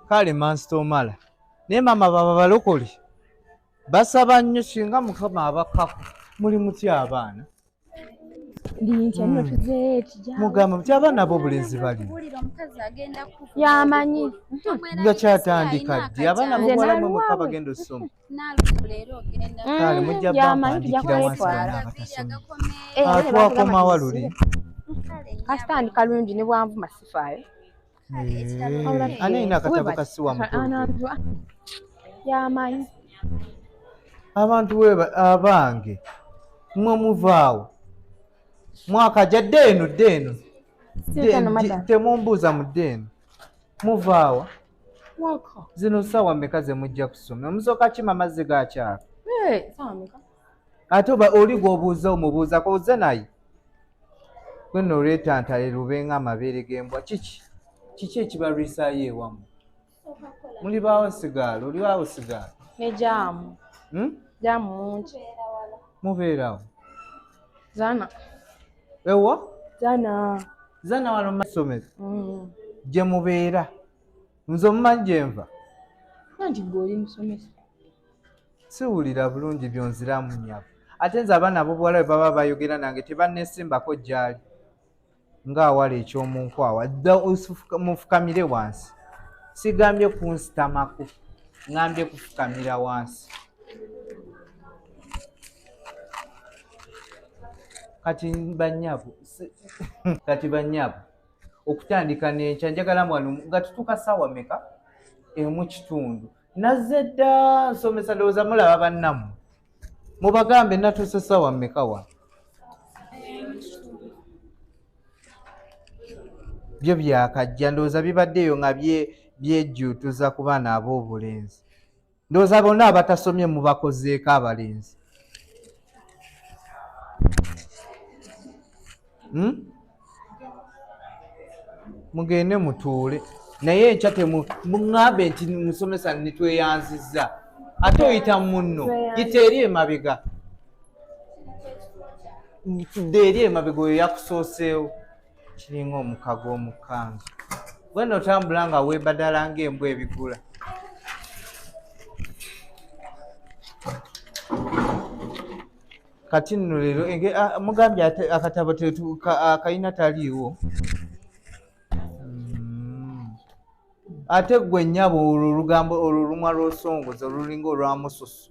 kale mansita omala naye maama baba balokole basaba nnyo singa mukama abakako muli mutya abaana mugamba muti abaana bo obulenzi bali yamanyi nga kyatandika ddi abaana bobuwalamwemuka bagenda osoma kale mujja bampandikira wansi bana abatasoma atwakomawa luli kasitandika lungi ne bwanvu masifaayo ani alina akatabo ka siwa yamanyi abantu weba abange mwe muvaawo mwaka ja dde eno dde eno temumbuuza mu dde eno muvaawa zino saawa meka zemujja kusoma omusooka kima mazzi gakyaka ate oba oli gwobuuza omubuuza koze naye gwena olwetantale lube nga amabeere gembwa kiki kiki ekibalwisayo ewamu muli baawo sigaalo oli baawo sigaalo nejamu hmm? jamu mungi mubeerawo zana ewa zana zana wano masomero hmm. gye mubeera nze omumanyi gyenva nanti gwe oli musomesa siwulira bulungi byonziramu nyabo ate nze abaana abobuwala bwe baba bayogera nange tebanesimbako gyali ngaawala ekyomunkwawa dda mufukamire wansi sigambye kunsitamako ngambye kufukamira wansi kati banyabu kati banyabu okutandika nenkya njagala mwanu nga tutuuka saawa meka emu kitundu nazze dda nsomesa ndowooza mulaba bannamu mubagambe natuuse sawa mmekawa byo byakajja ndowooza bibaddeyo nga byejjuutuza ku baana ab'obulenzi ndowooza bonna abatasomye mubakozeeko abalenzi hmm? mugende mutuule naye enkya temuŋambe nti musomesa nitweyanzizza ate oyita munno yita eri emabega tudde eri emabega oyo yakusooseewo kiringa omukago omukanzu wena otambula nga webadala ngaembwa ebigula kati nno leero mugambye akatabo kalina taliiwo hmm. ate gwe nyabo olwo olugambo olwo olumwa lwosongoza olulinga olwamususu